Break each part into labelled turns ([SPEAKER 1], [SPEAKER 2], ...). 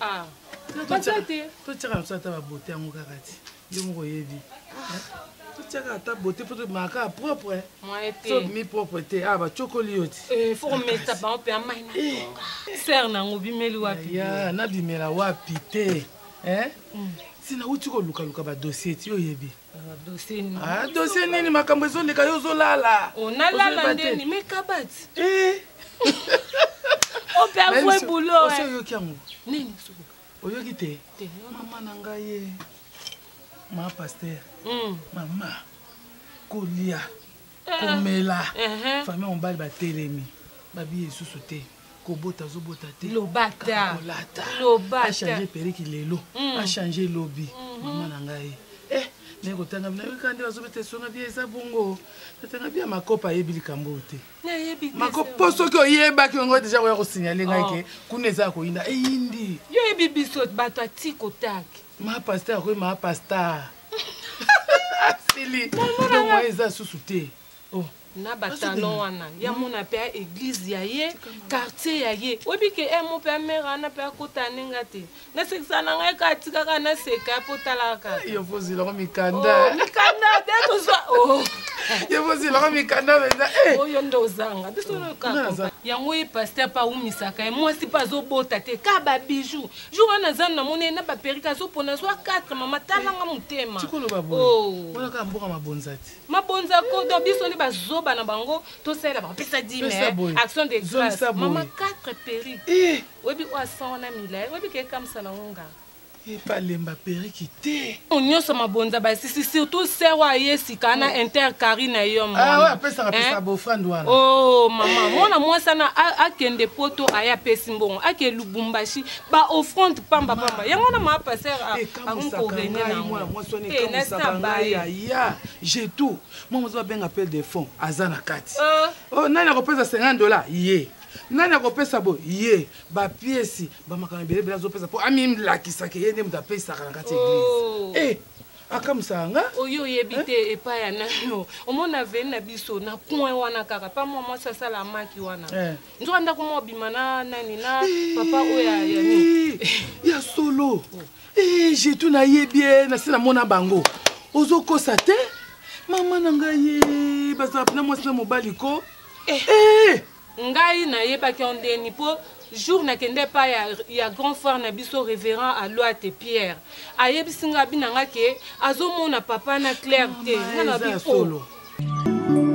[SPEAKER 1] Ah, baza te totyaka biso
[SPEAKER 2] ata babote yango kaka ti yo moko oyebi totyaka ata bote mpo tobimaka kaka propre tobimi
[SPEAKER 1] propre te a ah,
[SPEAKER 2] bacokoli yo ti eh, fokomesa bango
[SPEAKER 1] mpe amai na eh. ser nango obimeli wapi ya nabimela
[SPEAKER 2] wapi te eh? mm. si nauti kolukaluka badossier ti oyebi
[SPEAKER 1] Ah, dosie nini makambo
[SPEAKER 2] ezoleka yo ozolala oh, nalala
[SPEAKER 1] ndeni me kabati eh. opeavoe boulot eh. oyoki yango
[SPEAKER 2] nini
[SPEAKER 1] oyoki te
[SPEAKER 2] mama na ngai ye eh. ma paster hmm. mama kolia eh. komela eh, famille mobali batelemi babi esusu te kobota azobota te lobataachange periki lelo mm. achange lobi mm-hmm. mama na ngai eh me kotanga bino yoka nde bazobeta esonga bia eza bongo natanga bia makopa ayebi likambo oyo te makopo soki oyebaki yango deja koya kosignale ngai oh. ke kuna eza ya koyinda eyindi yo yebi biso
[SPEAKER 1] bato atikotake ma pasteur akoyema
[SPEAKER 2] pasteur asili to moyen eza susu te oh. na
[SPEAKER 1] batalon wana ya mona mpe ya église ya ye quartier ya ye oyebi ke eh, mo mpe ya mare wana mpe akota ne nga te nasekisa na ngai kaka tikaka naseka mpo talaka yovozelaka mikanda
[SPEAKER 2] oh, mikanda te
[SPEAKER 1] tozwa oh.
[SPEAKER 2] yovozelaka mikanda mpenza eh. oyo nde ozanga
[SPEAKER 1] biso yango ye paster mpe aumisaka ye mwasi mpe azobota te ka babijou jour wana aza na mona ye na baperike azopona azwa 4 mama talanga motema tikolobabonaka
[SPEAKER 2] oh. mboka mabonza te mabonza ko don
[SPEAKER 1] biso nde bazoba na bango tosalela bakopesa dime action de grace mama 4 perike eh. oyebi oyo asan wana milai oyebi kekamisa na ngo nga epalemba
[SPEAKER 2] perike te nyonso mabonza
[SPEAKER 1] basisi surtout sero aye sika na oh. intercari na yo mwanao
[SPEAKER 2] oh, mama mwana
[SPEAKER 1] mwasi ana akende poto aye apesi mbongo ake lubumbashi baoffrande pamba pamba yango wana maa paster akomi korene
[SPEAKER 2] nangojetou mwa mozo babenga appel de fond aza na kati euh. oh, nani akopesa 50 dollars ye nani akopesa bo ye bapiesi bamakambo ebele ebele azopesa mpo amilakisaka ye nde moto apesaka na kati ya eglise oh. eh, akamwisaka nga oyo oyebi eh? te
[SPEAKER 1] epai ya nano omona veni na biso na coin wana kaka pa mwa mwasi asala maki wana eh. nzoka ndako mwa obima na nani na papa oyo ya ya solo
[SPEAKER 2] oh. jetu nayebi ye nasi namona bango ozokosa te mama na ngai bazala mpena mwasi na mobali ko eh. Ngai
[SPEAKER 1] na yebaki yo ndeni po jour na kende epai ya, ya grand frère na biso reverend Aluate Pierre ayebisi nga abi na nga ke azomona papa na Claire te. Nga na bi solo. Oh.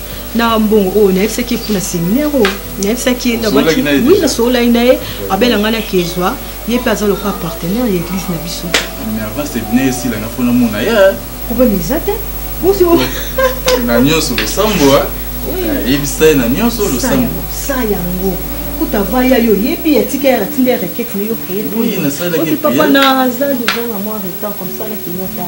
[SPEAKER 3] na mbongo oyo nayebisaki ye mpo na seminaire oyo nayebisaki ye oui nasololaki na ye abela ngai na kezwa ye mpe aza lokola partenaire ya église na biso
[SPEAKER 4] problème eza te
[SPEAKER 3] na
[SPEAKER 4] nyonso losambo ayebisa ye na nyonso losambo sa yango
[SPEAKER 3] kuta vaya yo yebi atika ya tinda ya raquette na yo créer
[SPEAKER 4] papa na azali
[SPEAKER 3] ozanga mwa retard comme ça na kimota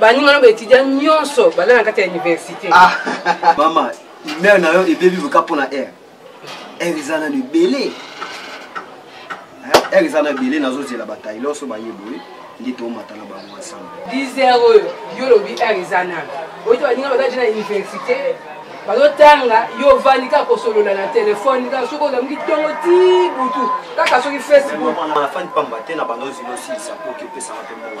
[SPEAKER 1] baninga no baetudiant nyonso baza na kati ya université ah.
[SPEAKER 5] mama humeur na yo ebebi voka mpo na aire aire eza nano ebele aire eza na ebele nazozela batayi loso baye boye nde tomata na bango ensemble 10 heure oyo
[SPEAKER 1] yo olobi aire eza nano oyo to baninga baza je na université bazotanga yo ovandi kaka kosolola na telefone kaka soki ozamuki ntongo ti butu kaka soki facebook afandi pamba te
[SPEAKER 5] na banda ozili osilisa mpo okipesaka mpe mbongo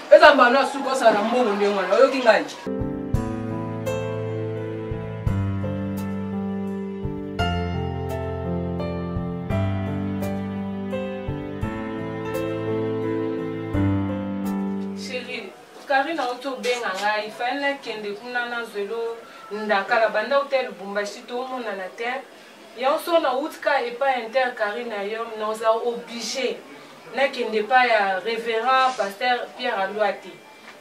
[SPEAKER 1] eza mbano ya suka osala na mbongo ndenge wana oyoki ngai karina auti obenga ngai faele nakende kuna nazwelo ndakala banda uta ya lubumbashi tomonana te Yango so na utka epai ya inter Carine ayom na oza oblige nakende epai ya reverend pasteur Pierre Alua te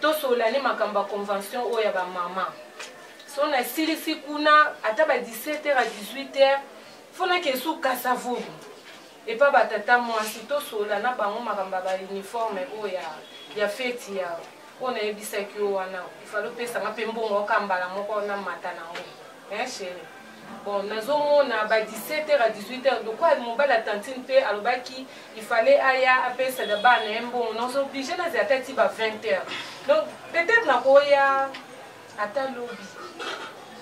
[SPEAKER 1] tosola ne makambo ya convention oyo ya bamama so nasilisi kuna ata ba 17 heures à 18 heures fo nakende su kasavubu epai batata mwasi tosola na bango makambo ya bauniforme oyo ya, ya feti ya oyo nayebisaki yo wana ifali opesanga mpe mbongo oka mbala moko na mata na yango Hein chérie bon nazomona ba 17 heures à 18 heures lokola mobali ya tantine mpe alobaki il fallait aya apesada bana na ye mbongo naoso oblige nazela ata ti ba 20 heures donc peut-être nakoya ata lobi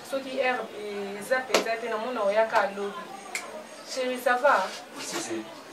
[SPEAKER 1] soki heure eza mpenza te namona oyaka lobi chéri ça va si, si.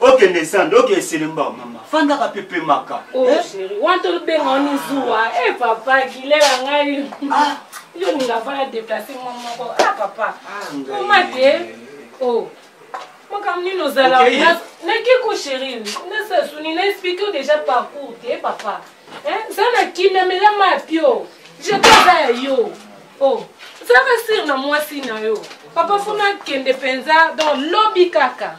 [SPEAKER 5] okende sande oke eselemba mama fandaka mpe pemaka oh, eh? wana
[SPEAKER 1] tobenga oni zuwa e eh, papa kilela ngai ah. yo olinga fana deplace mwa moko a ah, papa ah, oma te o oh. makambo nini ozala nake ko sherine nasasuni na explike déjà parcours te eh, papa za na kimia melama ya pio jete aza ya yo o zaka sire na mwasi na yo papa funa akende mpenza donc lobi kaka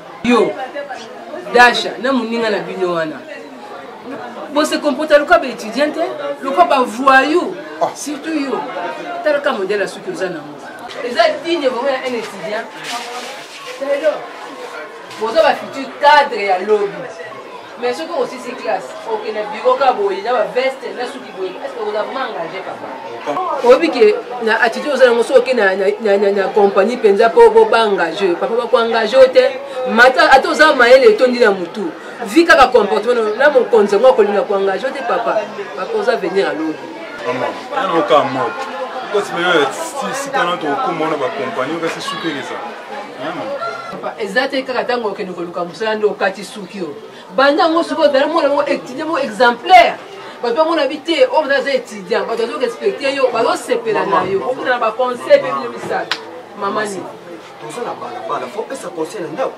[SPEAKER 1] yo dasha na moninga na bino wana bose comporta lokola baétudiant te lokola bavoyou ah. surtout yo talaka modele ya soki oza nango eza digne vraimen ya un étudiant boza bafutur cadre ya lobi Mais soki osisi classe okende biro ka boye na baveste na suki boye eske oza vraiment engage papa oyebi ke na attitude oza yango soki oke na compagnie mpenza mpo boba engage papa bakoengage yo te mata ata oza mayele etondi na motu vi kaka comportement na mokonzi yango akolinga koengage yo te papa papa oza venir alobi
[SPEAKER 6] okosimela sika na tokokoma wana bakompani okasi sukeleza
[SPEAKER 1] eza te kaka ntango okende koluka mosala nde okati suki oyo banda yango soki ozali mwana yango étudiant moko exemplaire bato bamona bi te oyo baza étudiant bato bazo respecte yo bazosepela na yo okuna na baconseil mpe bino misato mamani toza na balabala
[SPEAKER 5] fo pesa conseil na ndako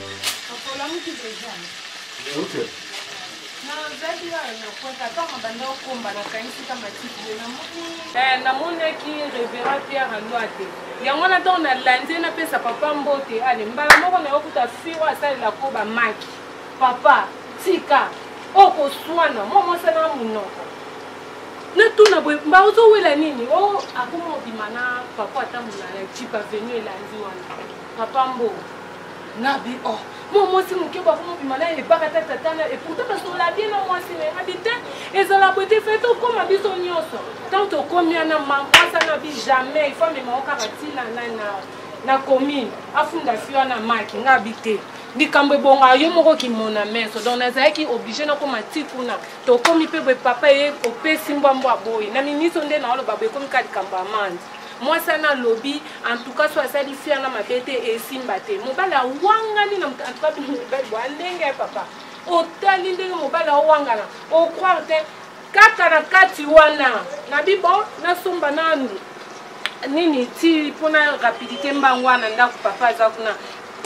[SPEAKER 1] Okolamuki deja? Okay. nazalaki nayo na kwata ata mabanda okomba nakanisika matiki ye namoni eh, namonaki revera pierre alwate yango wana ntango nalandi napesa papa mbote ale mbala moko nayokuta firo asalela ko bamaki papa tika okoswana mwa mosala monoko natuna boye mba ozowela nini o oh, akoma obima na papa atambola na jipe avenu elandi wana papa mbo nabi oh mwa mwasi moke bakomobima na ebaka ta tata na eputa basola bie na mwasi na nabi te ezala boye te fai tokóma biso nyonso ntango tokómi wana mamposa na bi jamais ifo amemao kaka ntina na na na commune afunda fi wana maki nga bi te likambo ebonga yo moko kimona meso donc nazalaki oblige nakoma ti kuna tokomi mpe boye papa ye opesi mbwambwa boye na miniso nde naoloba boye ekomi ka likambo ya mandi Mwasi wana alobi en tout cas so asali fille wana mabe te esimba te. Mobali awangani na moto en tout cas bino mibali bwa ndenge papa. Otali ndenge mobali awangana. O croire te kaka na kati wana na bibo nasomba nanu nini ti mpo na rapidité mbangu wana ndako papa aza kuna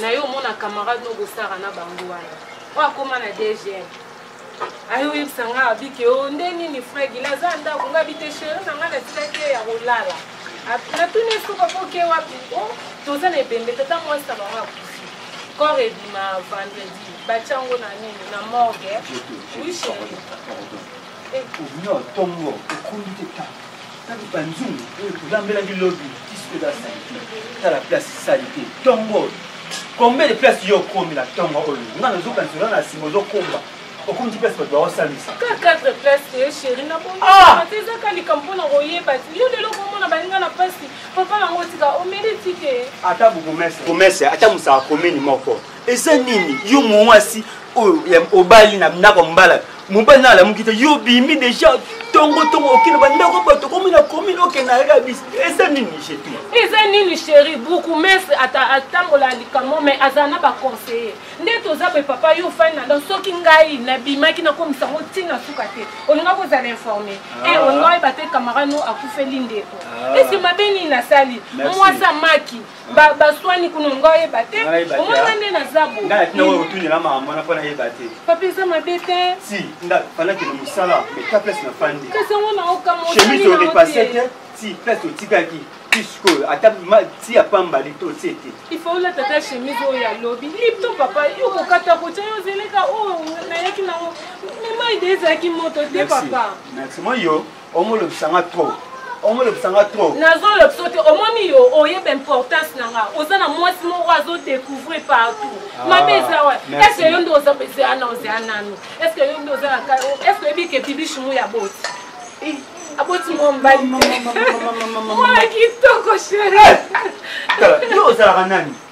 [SPEAKER 1] na yo omona camarade nobosaka na bango wana oyo akoma na dgm ayo oyebisa ngai abi ke o oh, nde nini frère gila aza ya ndako ngai abi te chéri na ngai natikaki ye ya kolala natuni ye soki akoke wapi o oh, toza na ebembe tata mwasi na bango akufi corps ebima vendredi batya yango na nini na morgue oui chéri
[SPEAKER 5] eh. Tatu kanzungu oyo tolambelaki lobi disque da salite tala place salite tongo oyo combien de place yo okomi na tongo oyo nga nazokanisa oza na nsima ozokomba okomi ti place bato baosalisa ka 4 place
[SPEAKER 1] te chéri na bonate ah! ezaka likambo mpo na koyeba ti yo lelo komona baninga na mpasi papa nango tika omeli tike ata bourgmestre
[SPEAKER 5] ata mosaka komini moko eza nini yo muasi oyo obali na ndako mbala mobali na alamuki te yo obimi deja tongo tongo okende bandako bato komi na komine okende arabis eza nini jetu eza nini sheri
[SPEAKER 1] bukumese atambola likambo me azala na baconseiller nde toza boye papa yo ofani na ndako soki ngai nabimaki nakomisa yango ntina suka te olinga kozala informe e ah. olinga oyeba te camarade no akufeli ndeko ah. esi mabe nini nasali mwasi amaki ba baswani kuna nga oyeba te omona nde naza bootuniela
[SPEAKER 5] mama mwana mpo nayeba te papa eza mabe te
[SPEAKER 1] si nda fandaki
[SPEAKER 5] na mosala meka place na fandi kasi yango naokamochemise
[SPEAKER 1] orepase te
[SPEAKER 5] ti place otikaki ti sikoyo ata ti ya pamba lito otie te ifaola tata
[SPEAKER 1] chemise oyo ya lobi lipto papa yokokata kotya yo zeleka oyo nayaki nango mema ide ezalaki moto te papa maximo yo
[SPEAKER 5] omolobisa nga trop omolobisa nga trop
[SPEAKER 1] nazolobisa te omoni yo oyeba importance na nga oza na mwasi moko azodecouvrir partout ah, mabe eza wa estce yo nde oza ozea na ozea nanu estce yo nde oza na estce oyebike bibishimu ya boti eh, aboti mwa mobali mwana kitoko shere eh! yo
[SPEAKER 5] ozalaka nani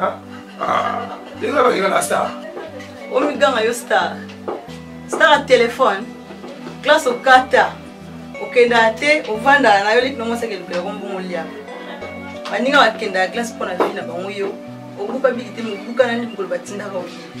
[SPEAKER 6] Ah, ah. ndenge na bakenda na star omiganga
[SPEAKER 3] yo star star ya telefone classe okata okendaka te ovandaka na yo leki nango osaka elukela kombongo olia baninga bakendaka classe mpo na vi na bango yo obuka biki te mobuka nani mokolo batindaka oyebi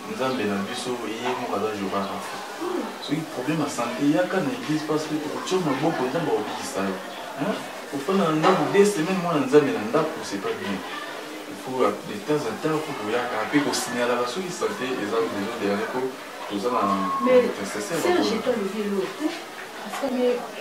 [SPEAKER 4] nzambe na biso ye moko aza jehovah rafa soki problème ya sante yaka na église parce que tokotya maboko nzambe akobikisa yo ofanda na ndako de semaine mwana nzambe na ndako c'est pas bien faut de temps en temps faut koyaka mpe kosignalaka soki sante eza besoin de yale mpo toza na
[SPEAKER 3] intercesseur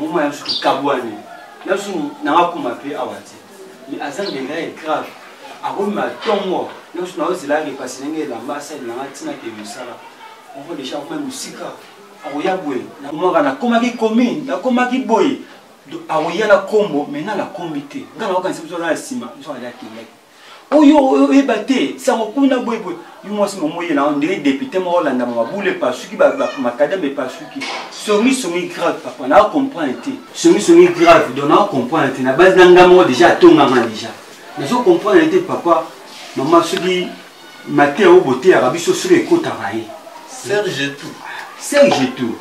[SPEAKER 5] moma ya biso tokabwani na biso na bakuma mpe awa te mais aza ndenge ya grave akomema ntongo na biso naozelaka epasi ndenge elamba asalelanga ntina ke mosala moko deja akoma mosika akoya boye nakomaka nakomaki commune nakomaki boye akoya na nkombo mai na nakombi te ngai nakokanisa biso na nsima biso alia kendaki oyo oyeba te sango kuna boyeboye yo mwasi momo ye na ndenge depute moko olandama mabulu epasuki makadame epasuki songisongi grave papa naa comprendre te songisongi grave don naa comprendre te na base na nga moko deja atonganga deja nazo comprendre te papa mama soki mateya oyo boteyaka biso soki ekotaka ye serge
[SPEAKER 4] tout serge tout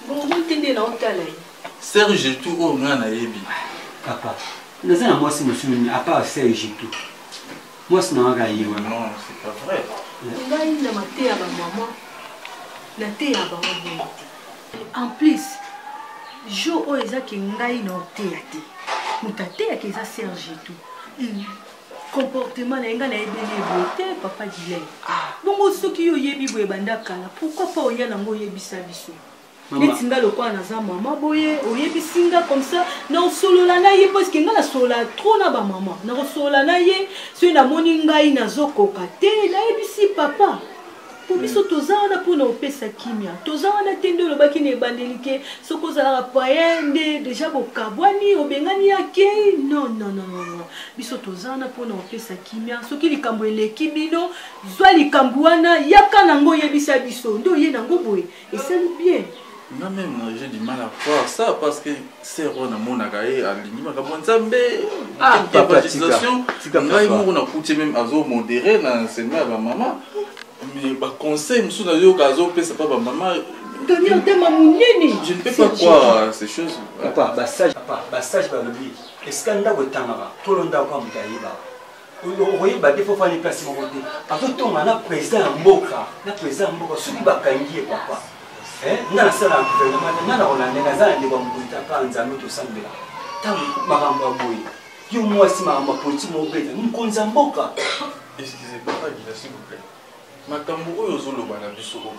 [SPEAKER 5] bongo
[SPEAKER 3] te nde naotala ye Serge tout
[SPEAKER 4] oyo nga nayebi. Papa,
[SPEAKER 5] naza na mwasi mosusu nini à part Serge tout. Mwasi na waka ye wana. Non, c'est pas vrai. Ngai na mateya ba
[SPEAKER 3] maman, nateya bango bongo te. En plus, jour oyo eza ke ngai na oteya te. Moto ateyaka eza Serge tout. Hmm. comportement na ye ngai nayebeli eboye te papa dilai ah. bongo soki yo oyebi boye banda kala pourkui pa oya nango oyebisa biso neti nga lokola naza mama boye oyebisi nga comme ça nakosolola na ye parce que nga nasolola trop na bamama nakosolola na ye soki namoni ngai nazokoka te nayebisi papa po biso toza wana mpona kopesa kimia toza wana te nde olobaki na ebandeli ke soki ozalaka paye nde deja bokabwani obengani ya kei non non non non biso toza wana mpona kopesa kimia soki likambo eleki bino zwa likambo wana yaka nango oyebisa biso nde oye nango boye esali bien nga meme na
[SPEAKER 4] je du mal à croire ça parce que sœur wana amonaka ye alingi makambo ya nzambe evangelisation ngai moko nakuti meme azo modere na enseignement ya bamama mais baconseil mosusu nayoka azopesa mpa bamama Daniel Dema
[SPEAKER 3] Mounini. Je ne peux pas croire
[SPEAKER 4] ces choses. Papa, bassage, papa,
[SPEAKER 5] bassage balobi. Est-ce que ndako etangaka? Tolo ndako amuta yeba. okoyeba te fo fani place moko te azotonga na président ya mboka na président ya mboka soki bakangi ye papa eh, nga nasala na gouvernement te nga na kolanda naza na ndeko ya mokili ta kaka nzambe tosambela ntango makambo ya boye yo mwasi makambo ya politike mobeta mokonzi ya mboka excusez
[SPEAKER 4] papa gina s'il vous plaît makambo oyo ozoloba na biso oyo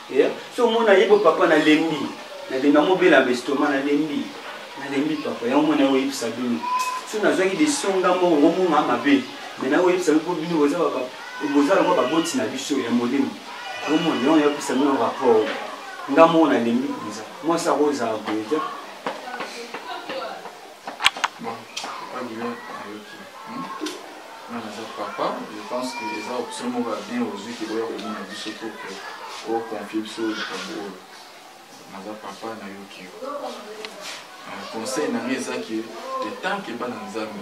[SPEAKER 5] Eh, so omona ye bo papa nalembi nalembi amobela bestoma nalembi nalembi papa yango mona oyebisa bino so nazwaki decision nga moko ngomona mabe me naoyebisa bino mpo bino boza yango baboti na biso ya molimo omona yango nayebisa bino rapport nga moko nalembi mpenza mwasi akozala boye te
[SPEAKER 4] papa je pense que eza option moko ya bien ozwi ke oya komona biso to ke oconfie biso likambo oyo naza papa nayoki yo conseil na ngai eza ke etanke bana nzambe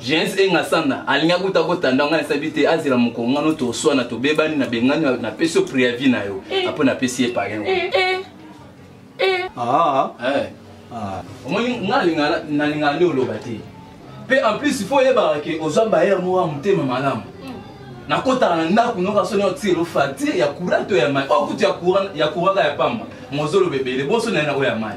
[SPEAKER 4] gens engasanda alingaki kuta kotanda ngai nasabi te azela mokolo ngano toswana tobebani na bengani napesi yo preavi na yo eh. apo napesi ye palin eh, eh, ah.
[SPEAKER 5] ah.
[SPEAKER 4] omoni ngai nalingaka nde oloba te mpe en plus fo oyebaka ke ozwa bayere moko ya motema malamu hmm. nakotaka na ndako noka soni otiselo fati ya kura to ya mai okutu oh, ya kuraka ya pamba mozoloba ebele bonso naye nakoya mai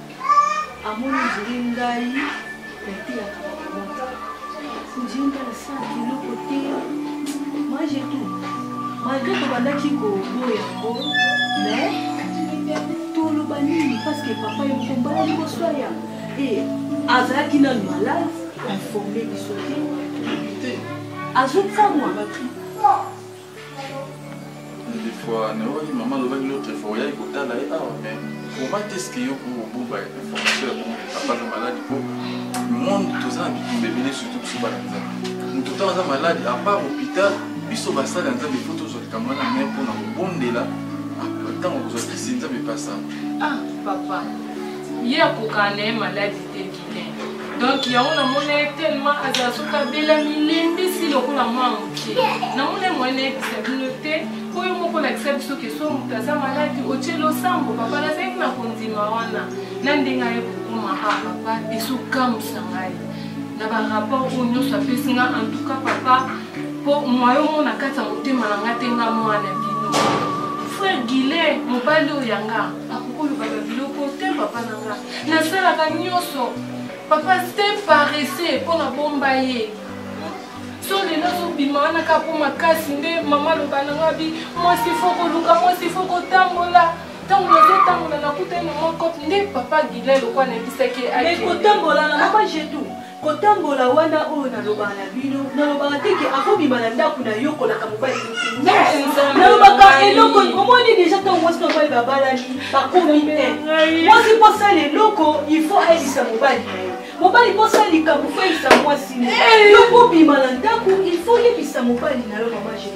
[SPEAKER 3] amoni ndiri ngai nateyaka bakomata ndiri ngai nasala biloko te mange tout malgré tobandaki koboya yango mais toloba nini parce que papa ye moko mbala liboso aya e azalaki nanu malade informe biso te azokamwa
[SPEAKER 4] fois nayokaki mama alobaki l'autre fois oyaki kotala ye awa mais koma te ske yo po obomba information ya bongo papa aza maladi po monde toza na bitumba ebele surtout biso bana nzambe moto ntango aza maladi apart hôpital biso basali ya nzambe po tozwa likambo wana mai mpona kobondela ntango kozwa kisi nzambe epasa ah papa
[SPEAKER 1] ye akokana na ye maladi te donc yango namona ye tellement azala soki abela milembisi lokola mwa moke namona ye moyen nayebisa bino te mpo yo moko olakisa biso keso moto aza maladi otie losambo papa nazalaki na kondima wana na ndenge aye kokoma a ah, papa ezokamwisa ngai na barapport oyo nyonso apesi nga en tout cas papa mpo mwayo moko na kati ya motema na nga te nga mwana bino frère guilet mobali oyo yanga akokoloba babiloko te papa na nga nasalaka nyonso papa te parese mpo na bomba ye so lelo azobima wana kaka mpo makasi nde mama aloba na ngai abi mwasi fo koluka mwasi fo kotambola ntango nazotambola nakutani na mwa cope nde papa gile lokola nayebisaki akotambola na
[SPEAKER 3] mama jetu Kotambola wana oyo nalobaka na bino, nalobaka te ke akobima na ndako na yo kolaka mobali nalobaka eloko omoni deja ntango mwasi na mobali babalani bakomi te mwasi mpo asala eloko il faut ayebisa mobali na ye mobali mpo asala likambo fo ayebisa mwasi na ye yo kobima na ndako il faut oyebisa mobali na yo mama jesus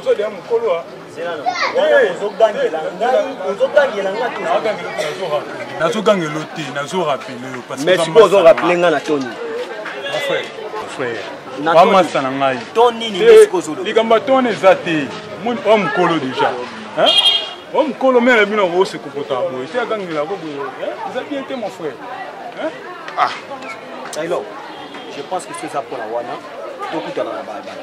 [SPEAKER 7] ozolia mokolo a ozogangela
[SPEAKER 5] nazogangela te nazorapele yo merci po ozorapele ngai na toni
[SPEAKER 7] bamasa na ngai
[SPEAKER 5] likambo ya toni eza
[SPEAKER 7] te oyo mokolo deja oyo mokolo mele bino akose kokota boye te agangela ko boye eza bien te mon frère ah.
[SPEAKER 5] je pense que soza mpona wana tokutana na balabala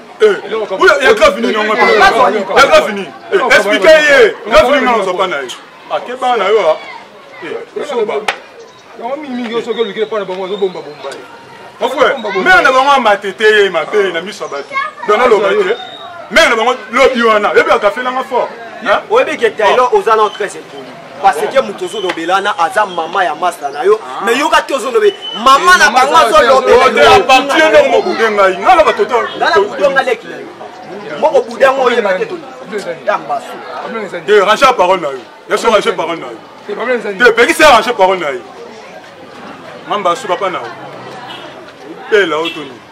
[SPEAKER 5] ya
[SPEAKER 7] grave nini yango ya grave nini explike ye grave nini nano zoba na ye akeba na yo zoba yango mingimingi yo soki olukile mpo na bango azobombabomba ye mare na bango amatete ye mabe na miso ya bato dona loba te mare na bango lobi wana yebi akafelanga fort oyebike
[SPEAKER 5] taylor oza na 13 epoli parce que moto ozolobela wana aza mama ya masta na yo ah. mais yoka te ozolobe mama eh, na bango azolobelapartie ndenge mobude
[SPEAKER 7] ngai ngai na batoto ngai na budo ngai leki
[SPEAKER 5] na yo moko budo yango oyeba te tambasu te eh,
[SPEAKER 7] range parole na yo yaso range parole na yo te eh, pekisa range parole na ye mamba su papa na yo pela otoni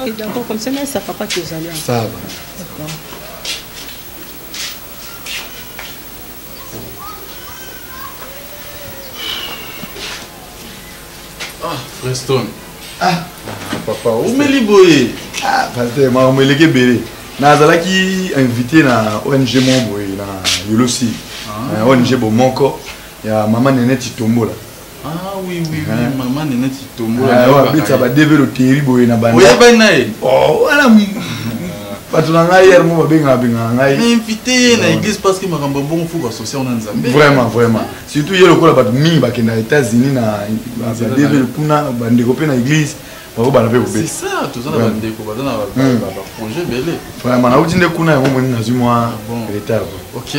[SPEAKER 8] Oui,
[SPEAKER 3] d'accord, comme ça, mais ça papa qui est
[SPEAKER 4] allé. Ça va. D'accord. Ah, Preston.
[SPEAKER 8] Ah, ah papa, omeli
[SPEAKER 4] boye. Ah, pasteur, ma
[SPEAKER 8] omeleke bele. nazalaki invité na ong moko boye na yolosi ah. ong bomoko ya mama nene titombola Ah oui, oui, oui.
[SPEAKER 4] Hein? Maman n'est pas tombée. Ah, ouais, habite ça va
[SPEAKER 8] développer le terrible et na bana. Oui, ben naï.
[SPEAKER 4] Oh, voilà.
[SPEAKER 8] bato na ngai yere mo babengaka bengaka ngai mais invite
[SPEAKER 4] ye na église parce que makambo ya bongo fo basocia ona nzambe vraiment vraiment surtout
[SPEAKER 8] ye lokola bato mingi bakenda états-unis na badevele kuna bandeko mpe na église bakobana mpe
[SPEAKER 4] kobetavraiment nauti nde kuna
[SPEAKER 8] yango moni nazwi mwa ah retard ok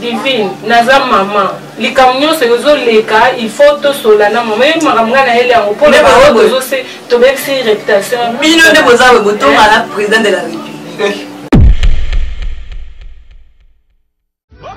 [SPEAKER 1] divine naza mama likambo nyonso ezoleka il faut tosola na mama yebi makambo ngai nayeli yango mpo
[SPEAKER 9] tobebisi reputation bino nde
[SPEAKER 1] boza
[SPEAKER 9] boye
[SPEAKER 1] botonga
[SPEAKER 9] na président
[SPEAKER 1] de la
[SPEAKER 9] république